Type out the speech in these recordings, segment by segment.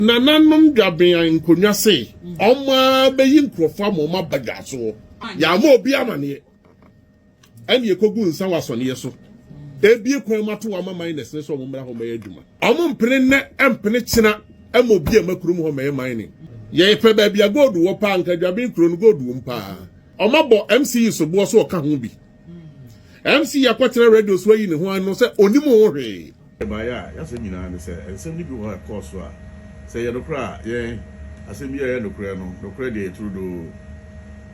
Nananom dwabean nkonnwa se wɔn ara bɛyi nkurɔfoɔ ama wɔn aba dwasoɔ. Yɛammɔ obi amaneɛ. Ɛnna yɛkɔgu nsa wɔ asɔneɛ so. Ebie kwan ma to ama miners no sɛ wɔn mmra hɔ mmɛyɛ adwuma. Wɔn mpene nnɛ mpene kyena ma obi a ɛma kurom hɔ mmɛyɛ mining. Yɛpɛ baabi a gold wɔ paa, anka dwaben kuro no gold wom paa. Wɔabɔ MCE soboɔ so ɔka ho bi. MC yɛ kɔkyerɛ radio so ayi ne ho ano sɛ onim ho hwee. Ɛbaeɛ a yɛasɛm nyinaa ne sɛ nsɛm no bi wɔ hɔ a ɛkɔɔ so a sɛ ɛyɛ nokorɛ a yɛn asɛm biara yɛ nokorɛ no, nokorɛ deɛ ɛyɛ turodoo.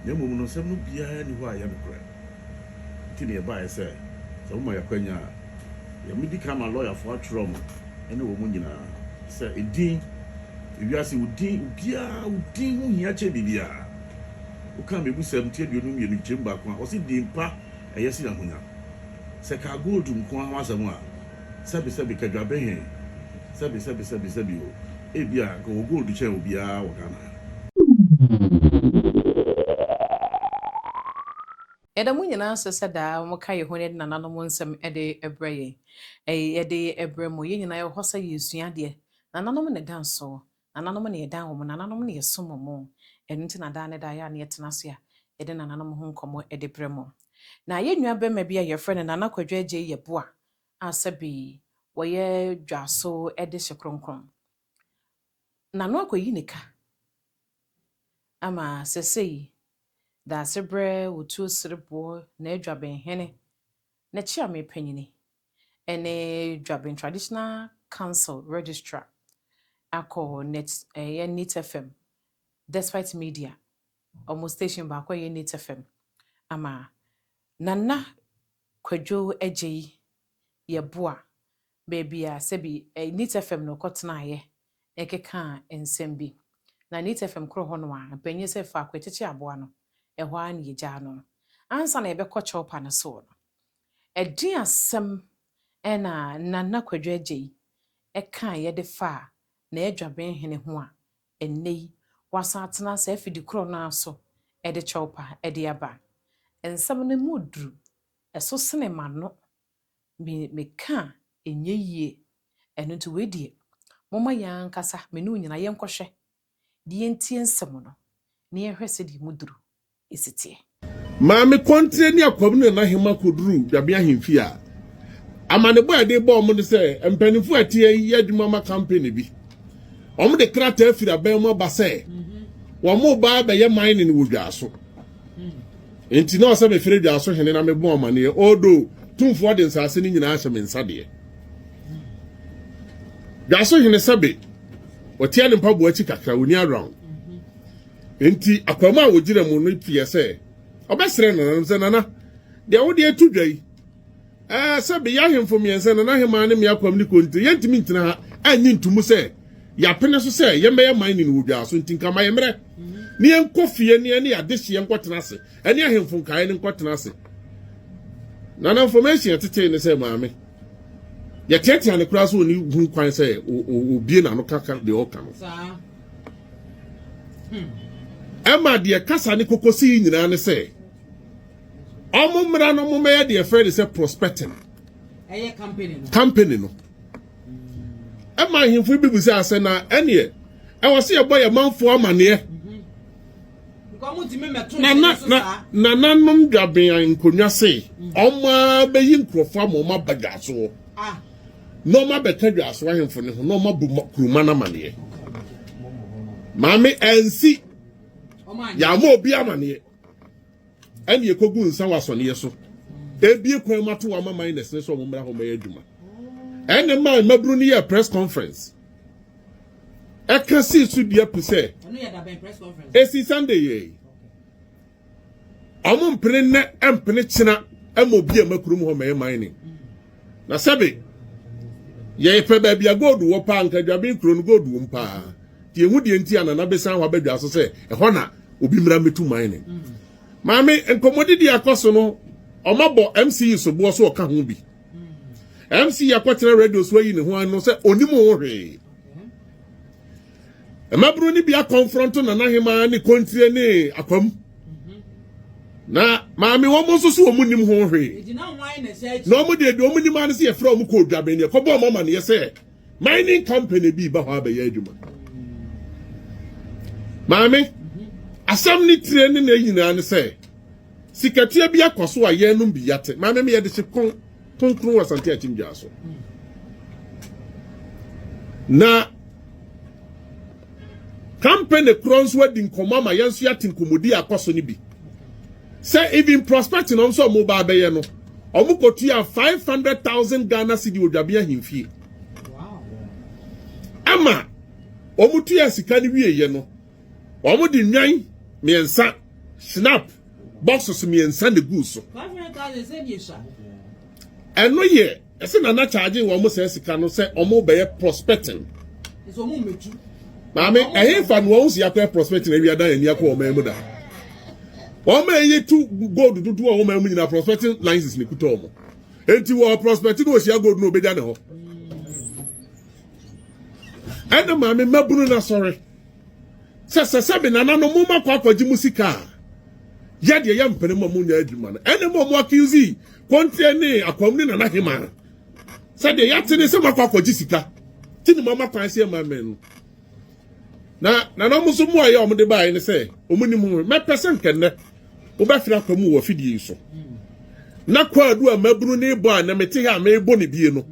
Na mmom no nsɛm no biara nni hɔ a ɛyɛ nokorɛ. Nti na yɛbaeɛ sɛ sɛ moma yɛn akwanya a yɛmedi kan ama lɔyafoɔ atwerɛ mo ne wɔn nyinaa sɛ edin, ewiase, wo din, obiara wo din ho hia kyɛn biribiara. Wokaa mebusɛm nti aduonu mmienu gyem baako a ɔse din pa ɛyɛ se ahonya sɛ kaa gold nko ara ho asɛm a sɛbi sɛbi kadwabe he sɛbi sɛbi sɛbi sɛbi o ebia nka ɔwɔ gold kyɛn obiara wɔ Ghana ha. Yɛda mo nyinaa ase sɛ daa moka yɛn honi ne nananom nsɛm de brɛ yɛn. Yɛde brɛ mo. Yɛn nyinaa yɛwɔ hɔ sɛ yɛresua adeɛ. Nananom na ɛda nsoɔ. Nananom na yɛdan wɔn, nananom na yɛsom wɔn. Ɛno nti na daa ne daa yɛ a na yɛtena ase a yɛde nananom ho nkɔmmɔ de brɛ mo. Na yɛn nua barima bi a yɛfrɛ no Nana Kwadwo Agyei yɛ boa a sɛbe wɔyɛ dwaso de hye kronkron. Nano akɔyi ne ka ama sɛsɛyi Daasebrɛ, Otuo Sereboɔ, N'adwa Benhene, N'akyiameepanyini ne Dwabin Traditional Council Registrar akɔ net ɛyɛ Nit FM Despite Media wɔn station baako a ɛyɛ Nit FM ama Nana Kwadwo Agyei Yeboah baabi a sɛbi Nit FM no kɔ tenaeɛ ɛkekaa nsɛm bi na Nit FM koro hɔ no a mpanyini sɛ faako ɛkyekye aboa no ɛhɔ ara na yɛgyaa no ansa na yɛbɛkɔ Chorpa no soɔ no Ɛdeɛn asɛm na Nana Kwadwo Agyei kaeɛ de faa N'adwaben Hene ho a ɛnnɛ yi wasan atena saa afidi korɔ no ara so de kyɛwpa de aba? Nsɛm no mu duru, ɛso sene m'ano, meka a ɛnyɛ yie. Ɛno nti wei deɛ momma yɛn ankasa me ne wo nyinaa yɛnkɔhwɛ de yɛntie nsɛm no na yɛnhwɛ sɛdeɛ emu duru si teɛ. Maame Kɔntrɛ ne Akwabena Nanahema kɔduruu Dwabe ahemfie a amanebɔ a yɛde bɔɔ wɔn ne sɛ mpanimfoɔ a ɛte ayi yɛ adwuma ma kampene bi. Wɔde krataa firi aban mu aba sɛ wɔreba abɛyɛ mining wɔ Dwaaso. Enti na ɔsɛ mefrɛ Dwaaso hene na mebɔ amanneɛ, although Tumfoɔ de nsase no nyinaa ahyɛ me nsa deɛ. Dwaso hene sɛbe ɔteɛ ne mpaboa akyi kakra ɔni around nti akwam a wɔgyina mu no teɛ sɛ ɔbɛsrɛ nananom sɛ nana deɛ wode atu dwa yi ɛɛ sɛbe yɛ ahemfo mmiɛnsa nana hemaa ne me akwam ne konte yɛntumi ntena ha anyi ntumu sɛ yɛapene so sɛ yɛmmɛyɛ man ne no wɔ dwaa so nti nka ma yɛmmerɛ ne yɛnkɔ fie ne yɛne yɛadehyeɛ nkɔtena ase Ɛne ahemfo nkaeɛ no nkɔtena ase. Nana information yɛtetee ne sɛ maame yɛteatea ne koraa sɛ ɔni hu kwan sɛ obie n'ano kaka deɛ ɔka no hmm. ɛma deɛ kasa ne kokosi yi nyinaa ne sɛ ɔmo mmara no ɔmo mɛyɛ deɛ fɛ de sɛ prospecting ɛyɛ company no company no ɛma ahemfo bi bu sɛ asɛ na ɛneɛ ɛwɔ sɛ yɛbɔ yɛ manfoɔ amaneɛ Nananom dwabean nkonnwa se wɔn ara bɛyi nkurɔfoɔ ama wɔn aba dwasoɔ na wɔn abɛka dwasoɔ ahemfo no ho na wɔn abu kuruma no amaneɛ. Maame ansi yɛama obi amaneɛ ɛne ɛkɔgu nsa wɔ asɔneɛ so ebie kwan mu ato wɔn ama minus ne sɛ wɔn mmra hɔ mmɛyɛ adwuma ɛne maa mmabunu no yɛ press conference. ɛka sii so dua pi sɛ ɛsi sunday yɛi ɔmo mpene nnɛ mpene kyena ma obi a makurom hɔ mɛyɛ mining na sɛbe yɛpɛ baabi a gold wɔ paa nka dwaben kuro no gold wom paa nti yɛhu deɛ nti a nana bɛsan hɔ abɛdwa so sɛ ɛhɔ na obi mmra mmɛtu mining maame nkɔmmɔdidi akɔ so no ɔmabɔ mce soboɔ so ɔka ho bi mc yɛkɔtena radio so ayi ne ho ano sɛ onim ho hwee mmabunu no bi akɔnfrɔnto nana hemaa ne kontire ne akwam na maame wɔn nso so wɔn nim ho hwee na wɔn deɛ deɛ wɔn nim ano sɛ yɛfrɛ wɔn kɔ odwaben deɛ kɔbɔ wɔn ama no yɛ sɛ Mining company bi ba hɔ abɛyɛ adwuma. Maame, asɛm ne tire ne ne nyinaa ne sɛ, sikatua bi akɔ so a yɛnom bi yate. Maame me yɛde hye pon kronkron wɔ Asante Akyimgyaa so. Na company korɔ nso adi nkɔmmɔ ama yɛn nso yɛate nkɔmmɔdi akɔ so no bi. Sɛ even prospecting a wɔn sɛ wɔn ba abɛyɛ no, wɔn kɔ tua five hundred thousand Ghana cedi wɔ Dwaben Ahemfie. Ɛma wɔn tua sika no wie yɛ no, wɔn de nwan mmiɛnsa, shinap boxes mmiɛnsa na egu so. Ɛno yɛ. Ɛsɛ na na charge wɔn sɛ sika no sɛ wɔn bɛyɛ prospecting. Ɛsɛ wɔn mɛtu. Maame ɛhe fa no wɔn si akɔyɛ prospecting awia dan ani akɔ wɔn mu da. Wɔn mɛ yɛ tu gold dodo a wɔn mu nyinaa prospecting license ne kuta wɔn. Eti wɔ prospecting na ohyia gold na obegya ne hɔ. Ɛna maame mabunu na sɔre. Sɛ sɛ sɛ me nananom mo ma kɔ akɔgye mo sika a, yɛ deɛ yɛ mpene ma mo nya adwuma no. Ɛne mo mo akiusi kɔnteɛ ne akwam ne nana hema. Sɛ deɛ yɛate ne sɛ mo akɔ akɔgye sika. Ti ne mo ama kwan sɛ ɛma mmɛn no. Na nana mo nso mo a yɛ wɔn de baeɛ ne sɛ wɔn nim ho. Mɛpɛ sɛ nkɛnnɛ wobɛfiri akwam wɔ afidie yi so. Na kwaadu a mabunu ne bɔ a na mete ha a mebɔ ne bie no.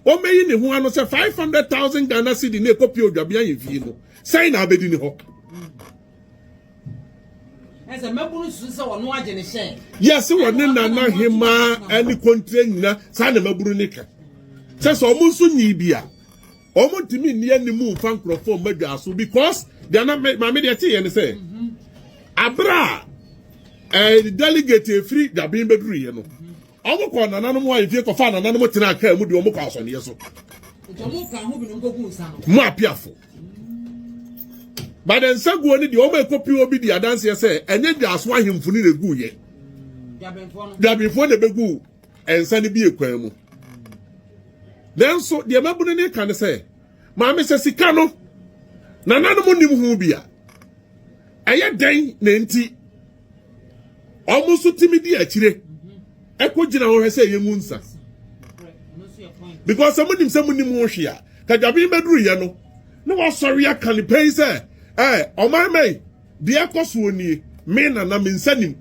Ɔmɛyi ne ho ano sɛ five hundred thousand Ghana cedi na ɛkɔ pie odwabea ahemfie no sɛn na abɛdi ne hɔ. Ɛsɛ mmabunu susu sɛ ɔno agye ne hyɛ. Yɛse wɔne nana hemaa ne kontre nyina saa na mmabunu ne ka sɛ sɛ ɔmo nso nyi bi a ɔmo ntumi nni anim mfa nkurɔfoɔ mma dwa so because deɛ na maame deɛ ɛte yɛ ne sɛ abere a eh, delegate efiri dwaben bɛduruyɛ no Ɔmo kɔɔ nananom hɔ ahemfie kɔfaa nananom tenaa kaa mu de ɔmo kɔɔ asɔneɛ so. Mo apiafo. Ba de nsaguo no deɛ ɔmo ekopi obi di adanseɛ sɛ ɛnyɛ dwaaso ahemfo no na egu yɛ. Dwabenfoɔ na ebegu nsa no bi ekwan mu. Nanso deɛ mabunu ne ka ne sɛ maame sɛ sika no nananom nim ho bi a ɛyɛ dɛn na enti Wɔn nso tumi di akyire ɛkɔ gyina hɔ hwɛ sɛ yɛn mu nsa because wɔn nim sɛ mo nim ho hwee a kadwaben bɛduru yɛ no na wasɔre aka ne pɛn sɛ ɛɛ ɔman mɛyi deɛ ɛkɔ soɔ nie me nana me nsa nim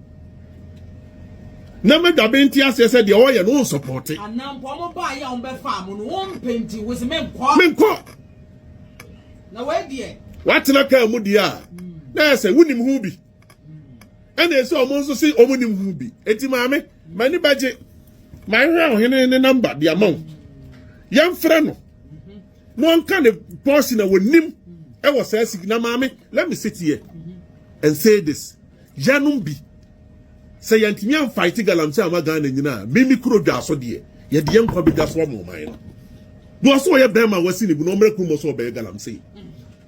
na mɛdwaben te aseɛ sɛ deɛ ɔyɛ no nsɔpɔte. anampo wɔn baa yɛ a wɔn bɛfa mo no wɔn mpɛnti wɔsi menkɔ. menkɔ. na wɔadiɛ. watena kaa mu deɛ a na ɛsɛ wonim ho bi. ɛna ɛsɛ ɔmo nso se ɔmo nim ho bi eti maame m'ani bɛgye mahwehwɛ ɔhene ne namba de ama wo yɛmfrɛ no na ɔnka ne pɔɔsi na wɔnim ɛwɔ saa sigi na maame let me sit here and say this yanom bi sɛ yɛntumi amfaete galamsey ama ghana nyinaa mimi kuro dwa so deɛ yɛde yɛn nkwa bɛdwa so ama ɔman no na ɔsɛ ɔyɛ bɛrima wasi ne bu na ɔmmerɛ kurom ɔsɛ ɔbɛyɛ galamsey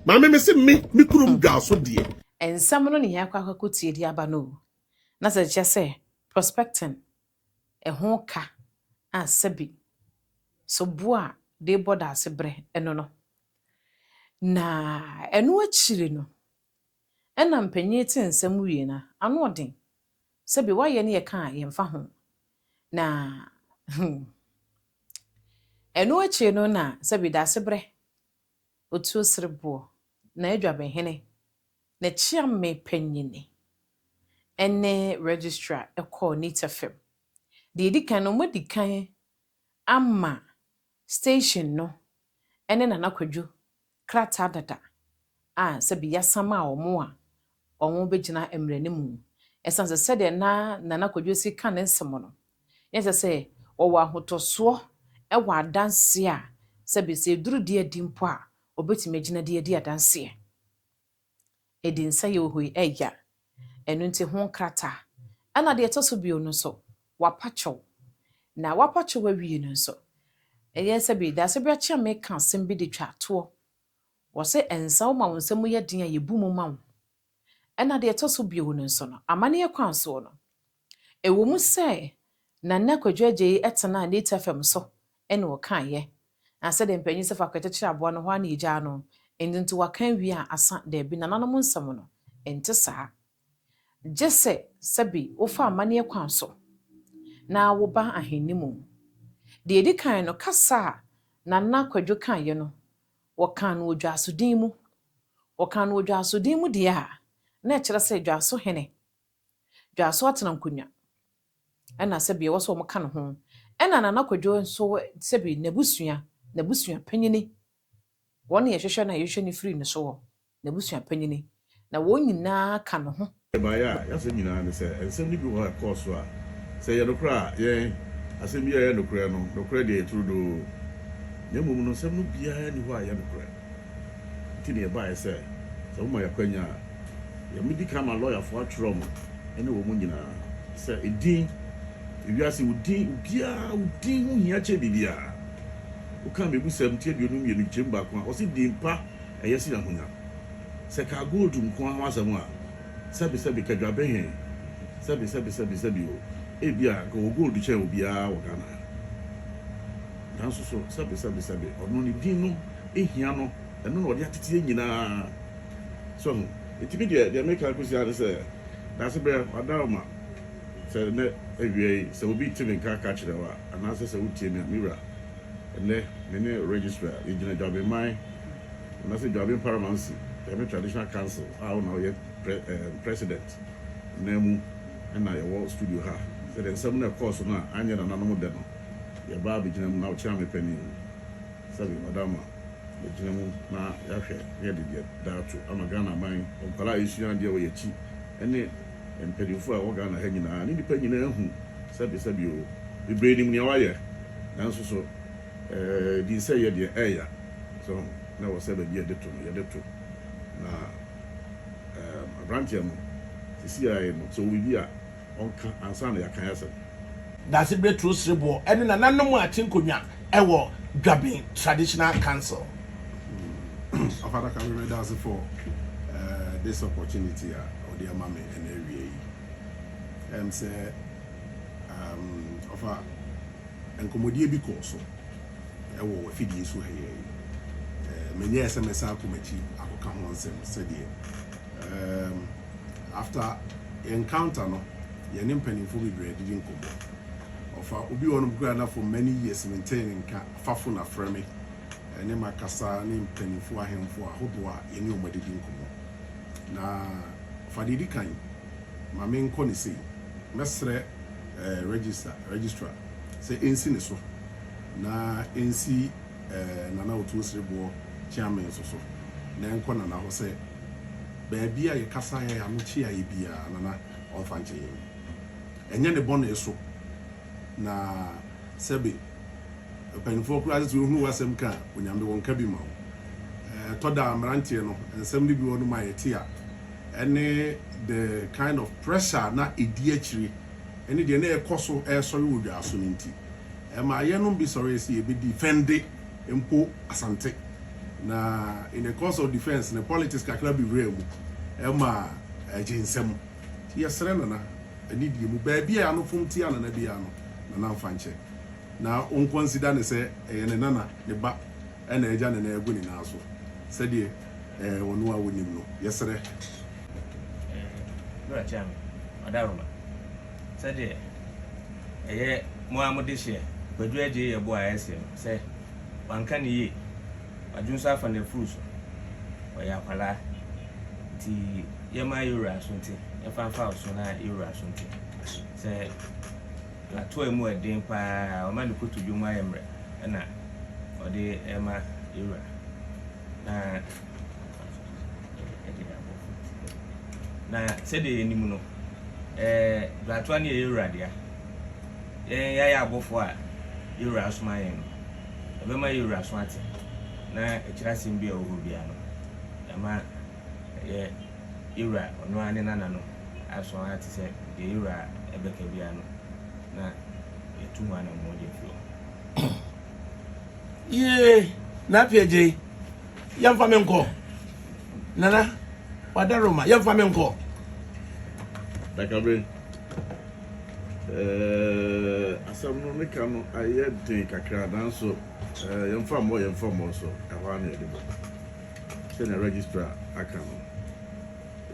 maame me se me me kurom dwa so deɛ Nsɛm no ne yɛn akɔ akɔtie de aba no o, na sɛ ɛkyerɛ sɛ prospecting ho ka a sɛbi so bo a de bɔ daase brɛ ɛno no. Na ɛno akyiri no, ɛna mpanyin te nsɛm wie no a, ano ɔden. Sɛbi wayɛ ne yɛka a yɛmfa ho. Na hmm, ɛno akyiri no na sɛbi daase brɛ Otuo sere boɔ na adwabehene na kyeame panyini ne registrar kɔɔ Nitefem. Deɛ ɛdi kan no, wɔadi kan ama station no ne Nana Kwadwo krataa dada a sɛbi yɛasan maa wɔn a wɔbɛgyina mmerɛ no mu. Ɛsiane sɛ sɛdeɛ na Nana Kwadwosi ka ne nsɛm no, na ɛsɛ sɛ wɔwɔ ahotɔsoɔ wɔ adanseɛ a, sɛbe sɛ ɛduru de adi mpo a, wɔbɛtumi agyina de adi adanseɛ. Ɛdi nsa yɛ ohoi ɛya. Ɛno nti ho nkrataa. Ɛna deɛ ɛtɔ so bio no nso, wɔapa kyɛw. Na wɔapa kyɛw awie no nso, ɛyɛ sɛbe daasɛ berɛ akye a meka asɛm bi de twa toɔ. Wɔse nsaw ma wo nsa mu yɛ den a yebu mu ma wo. Ɛna deɛ ɛtɔ so bio no nso no, amanneɛ kwan soɔ no, ɛwɔ mu sɛ na nnɛ Kwadwo Agyei tenaa Nate FM so ne ɔkaeɛ, na sɛdeɛ mpanin sɛ faako yɛkyekyere aboa no hɔ ara na yɛgyaa no, enti nti waka awie a asa, daabi, nananom nsɛm no, ɛnte saa. gye sɛ sɛbe wofa amanneɛ kwan so na woba Ahenni mu. Deɛ ɛdi kan no, kasa a Nana Kwadwo kaeɛ no, wɔkaa no wɔ dwaasodin mu. Wɔkaa no wɔ dwaasodin mu deɛ a, na ɛkyerɛ sɛ dwaaso hene, dwaaso atenankonnwa na sɛbe ɛwɔ sɛ wɔka ne ho. Ɛnna Nana Kwadwo nso, sɛbe n'abusua, n'abusua panyin Wɔn na yɛhwehwɛ na yɛhwehwɛ no firi ne so wɔ n'abusua panyin, na wɔn nyinaa ka ne ho. Mmeae a yɛasɛm nyinaa ne sɛ nsɛm no bi wɔ hɔ a ɛkɔɔ so a, sɛ ɛyɛ nokorɛ a, yɛn, asɛm biara a ɛyɛ nokorɛ no, nokorɛ deɛ ɛyɛ turodoo. Na mmom no, nsɛm no biara nni hɔ a ɛyɛ nokorɛ. Enti na yɛbaeɛ sɛ, sɛ moma yɛn akwanya a, yɛbɛdi kan ama lɔyafoɔ atwerɛ mo ne wɔn nyinaa, sɛ edin, ewiase, wo din, obiara, wo din ho hia kyɛn biribiara. Okaa Mmebusɛm ti aduonu mmienu nkyem baako a ɔse din pa ɛyɛ sen ahonya. Sɛ ɛkaa gold nko ara ho asɛm a, sɛbe sɛbe ka dwaben he, sɛbe sɛbe sɛbe sɛbe o, ebia nka ɔwɔ gold kyɛn obiaa wɔ Ghana ha. Nanso so sɛbe sɛbe sɛbe ɔno ne din no hia no, ɛno na ɔde atete yɛ nyinaa. So ho? Nti me deɛ, deɛ meka kosi ara ne sɛ, Daasebrɛ, wada wo ma. Sɛ nnɛ awia yi, sɛ obi te me nka ka kyerɛ wo a, anaasɛ sɛ wotie me a, me wura, nnɛ me ne Registrar yɛgyina Dwabenman anaasɛ Dwaben Paramancy ɛyɛ me Traditional Council a wo na woyɛ Pre ɛɛm President nan mu na yɛwɔ studio ha. Sɛdeɛ nsɛm no ɛkɔɔ so no a anyɛ nananom dɛ no, yɛbaa abɛgyina mu na wokyea me panin mu sɛdeɛ Ɔdaama bɛgyina mu na yɛahwɛ na yɛde deɛ da ato ama Ghana man nkwadaa a ɛresua adeɛ wɔ yɛn akyi ne mpanyimfo a ɛwɔ Ghana ha nyinaa ne nnipa nyinaa hu sɛ Besabi oo, bebree nim nea wayɛ, nanso so ɛɛ dinsɛeɛ deɛ ɛɛya? So ho? Na ɛwɔ sɛ baabi a yɛde to no, yɛde to. Na ɛɛm abranteɛ no, sisi ara yi no, sɛ ɔwɔ biribi a, ɔnka ansa na yɛaka yɛn asɛm. Dasebrɛ Turo Sereboɔ ne nananom a te nkonnwa wɔ Dwaben Traditional Council. Papa Daka me meda ase for uh, this opportunity a ɔde ama me ɛna awia yi ɛm sɛ um, ɔfa nkɔmmɔdie bi kɔɔ so ɛwɔ wafidie so ha yɛ yi menyɛɛ sɛ mɛsan akɔ m'akyi akɔka ho nsɛm sɛdeɛ um, After yɛn encounter no, yɛne mpanyimfoɔ bebree adidi nkɔmmɔ. Ɔfa obi wɔ hɔnom koraa na for many years mentee ne nka, fa phone afrɛ me. Ɛne makasa ne mpanyimfoɔ ahemfo ahodoɔ a yɛne wɔn adidi nkɔmmɔ. Na fa deɛ ɛdi kan, ma menkɔ no sei. Mɛsrɛ eh, register, registrar sɛ ɛnsi ne so na ɛnsi eh, Nana Otuo Sereboɔ Kyeame nso so na ɛnkɔ Nana hɔ sɛ, baabi a yɛkasa a yɛn ano kye ayɛ biara, Nana, ɔmfa nkyɛ yɛn. Ɛnyɛ ne bɔne so, na sɛbe mpanimfoɔ koraa sɛ sɛ wɔhunu w'asɛm ka a, Onyame, wɔnka bi ma wo. Ɛtɔ da a, mmeranteɛ no, nsɛm no bi wɔ nom a yɛte a, ɛne the kind of pressure a na ɛdi akyire ne deɛ na ɛrekɔ so resɔre wɔ dwaaso no nti, ɛmaa yɛnom bi sɔree sɛ yɛbɛdi fɛnde. mpo Asante. Na in the course of defence no politics kakra bi wuraa mu ma ɛgye nsam. Nti yɛsrɛ Nana anidie mu baabi a anofom tia Nana biara no Nana mfa nkyɛ. Na ɔnkɔ nsida no sɛ ɛyɛ ne Nana, ne ba na agya ne nan agu ne nan so sɛdeɛ ɛɛ ɔno a ɔnim no. Yɛsrɛ. Ɛɛ Nura Kyame Ɔdaroma Sɛdeɛ ɛyɛ mo ara mo dehyeɛ Kwadu Adjei yɛ bo a ɛsee no sɛ wanka no yie Wadwo nso afa n'afuru so Ɔyɛ akwadaa nti yɛmma yɛwura Asonti yɛmfa mfa wo so na yɛwura Asonti sɛ Lato a mu yɛ den pa ara Ɔma ne kotodwe mu ayɛ mmerɛ na ɔde rema yɛwura na Na sɛdeɛ yɛnim no, Bratoa no yɛ yɛn wura dea. Yɛn yɛayɛ abɔfoɔ a yɛn wura asoma yɛn no, ɛbɛma yɛn wura aso ate, na akyire asɛm biara a ɛwɔ hɔ biara no, yɛama yɛn wura, ɔno ara ne Nana no, aso ate sɛ deɛ yɛn wura bɛka biara no, na yɛatu ho anammɔn de afiri hɔ. Yie, Napier Gyei. yɛmfa me nkɔ nana wada roma yɛmfa me nkɔ dakabe eh, asɛm no meka no ayɛ den kakra nanso eh, yɛmfa mmɔ yɛmfa mmɔ so ɛhɔ a na yɛde bɔ sɛnea registrar aka no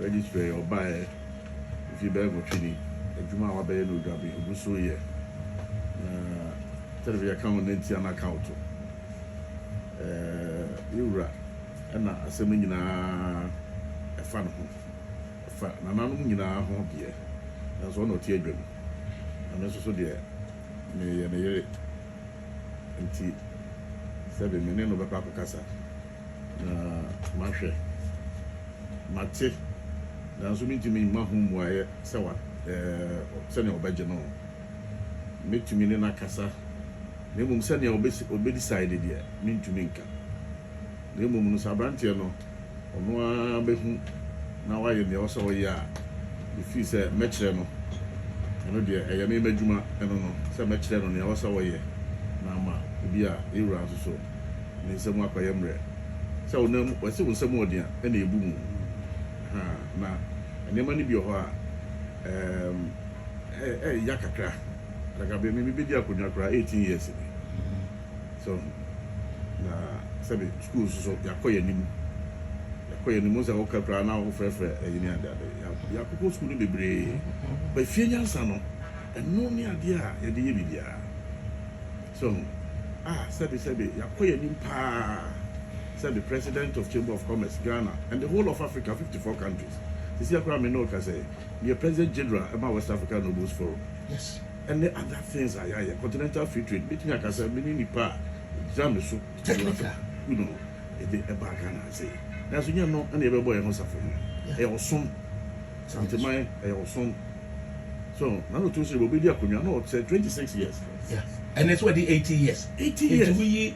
registrar yɛ ɔbaeɛ mfi bɛyɛ nwɔtwe ni adwuma a wabɛyɛ no odwabe ɔgu so yɛ na television account ne ntia no account Ɛɛɛ, me wura, ɛna asɛm no nyinaa ɛfa ne ho. Ɛfa nananom nyinaa ho deɛ, nanso ɔna ɔte adwam, na me nso so deɛ, meyɛ ne yere. Enti, sɛbe me ne no bɛkɔ akɔkasa, na mahwɛ, mate, nanso mentumi mma ho mmuaeɛ sɛ wa, ɛɛɛ, sɛdeɛ ɔbɛgye no. Mɛtumi ne no akasa. na mmom sɛnea obe decide deɛ me ntumi nka. Na mmom no sɛ abranteɛ no ɔno ara bɛhu na wayɛ nea ɔwɔ sɛ ɔyɛ a, me feel sɛ mɛkyerɛ no, ɛno deɛ ɛyɛ me m'adwuma ɛno no, sɛ mɛkyerɛ no nea ɔwɔ sɛ ɔyɛ na ama ebi a yɛn wura nso so ne nsa mu akɔyɛ mmerɛ. Sɛ wo nan mu, wɔse wo nsa mu ɔden a ɛna ɛbu mu, ahaa, na nneɛma no bi wɔ hɔ a ɛɛm ɛɛya kakra. Like aber me mebedi akonnwa koraa eighteen years ni. So na sɛbe school nso so yɛakɔ yɛn anim yɛakɔ yɛn anim ɔsɛ woka koraa na wofrɛfrɛ ɛyi ne ade ade yɛakokɔ school no bebree ba fie nyansa no ɛno ne adeɛ a yɛde yɛ biribiara so ho a sɛbe sɛbe yɛakɔ yɛn anim paa sɛbe president of chamber of commerce Ghana and the whole of Africa fifty four countries sisi akora me ne woka sɛ meyɛ president general ma West Africa Nobles Forum ɛne other things a yɛayɛ, continental free trade, mɛtumi aka sɛ mene nipa a gyina me so technical you know ɛde ɛbaa Ghana ha sei nanso nyɛ no ɛna yɛbɛbɔ yɛn ho safohene, ɛyɛ ɔsom, Santeman ɛyɛ ɔsom so Nana Otumsiri bɛdi akonnwa na ɔsɛ 26 years. Yeah. And it's what the 80 years. 80 years. Into we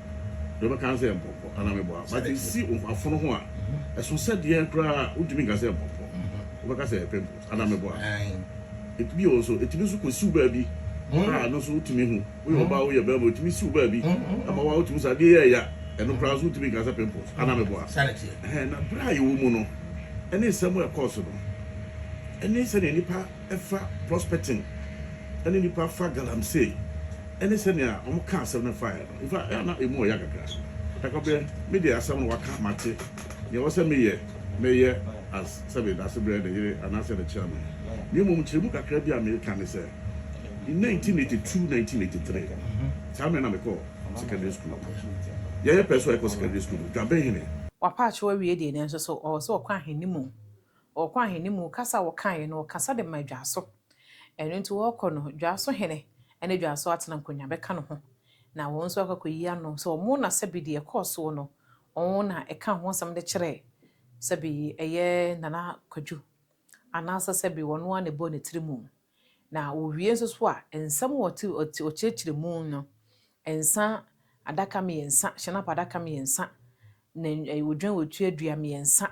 deɛ wobɛka sɛ mpɔmpɔ anaa meboa but ɛsi afono ho a ɛso sɛ deɛ koraa wontumi nka sɛ mpɔmpɔ wobɛka sɛ pimples anaa meboa ɛtumi wɔ nso ɛtumi nso kɔsiw baabi a no nso wotumi hu woyɛ ɔbaa woyɛ bɛrima ɛtumi siw baabi ɛma wa wotumi sɛ adeɛ yɛ ɛya ɛno koraa nso wotumi nka sɛ pimples anaa meboa na berɛ a yɛwɔ mu no ɛne nsɛm ɛkɔɔ so no ɛne sɛdeɛ nipa ɛfa prospecting ɛne nnipa fa galamsey ɛne sɛnea wɔn ka asɛm no faeɛ no infa ɛyɛ a na ɛmu ɔya kakra Dakwabena me deɛ asɛm no waka mate nea ɛwɔ sɛ meyɛ mɛyɛ as sɛ me dase brɛ ne yere anaasɛ ne chairman na mmom nkyerɛmu kakra bi a meka ne sɛ in 1982 1983 saa mmerɛ na mekɔɔ secondary school yɛyɛ pɛ so a yɛkɔ secondary school no Dwabenhene Wapaakyɛw awie deɛ nanso so ɔwɔ sɛ ɔkɔ ahene mu Wɔkɔ ahene mu kasa a wɔkaeɛ no, wɔkasa de maa Dwaso. Ɛno nti wɔkɔ no, Dwaso hene ne Dwaso atena nkonnwa bɛka ne ho, na wɔn nso akɔ akɔyi ano sɛ wɔn na sɛbe deɛ ɛkɔɔ soɔ no, wɔn na ɛkaa ho asɛm de kyerɛɛ sɛbe ɛyɛ Nana Kwadu, anaasɛ sɛbe ɔno ara na ɛbɔɔ ne tiri mu. Na owie nso so a, nsɛm a ɔkyerɛkyerɛ mu no, nsã adaka mmiɛnsa, hyɛnapa adaka mmiɛnsa, odwan otuadua mmiɛnsa,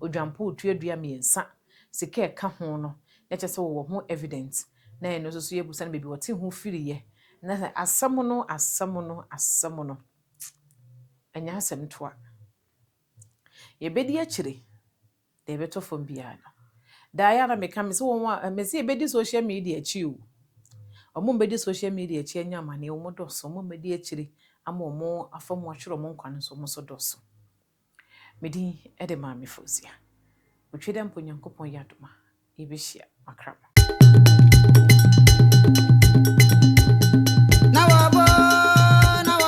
odwanpo otuadua mmiɛnsa, sika a ɛka ho no, na kyerɛ sɛ wɔwɔ ho evidence, na ɛno nso so yɛbisa no baabi ɔte ho firiiɛ, na sɛ asɛm no, asɛm no, asɛm no, ɛnyɛ asɛm toa. Yɛbɛdi akyire. Deɛ ɛbɛtɔ fam biara no. Daa yɛ a na meka me sɛ wɔn a mese yɛbɛdi social media akyi o. Wɔn a wɔbɛdi social media akyi anya amaneɛ wɔn dɔɔso. Wɔn a wɔbɛdi akyire ama wɔn afa mu atwerɛ wɔn nkwa no nso wɔn nso dɔɔso. Me din de Maame Fozia. Otweda mpo Nyankopɔn yɛ adom a yɛbɛhyia makra mo.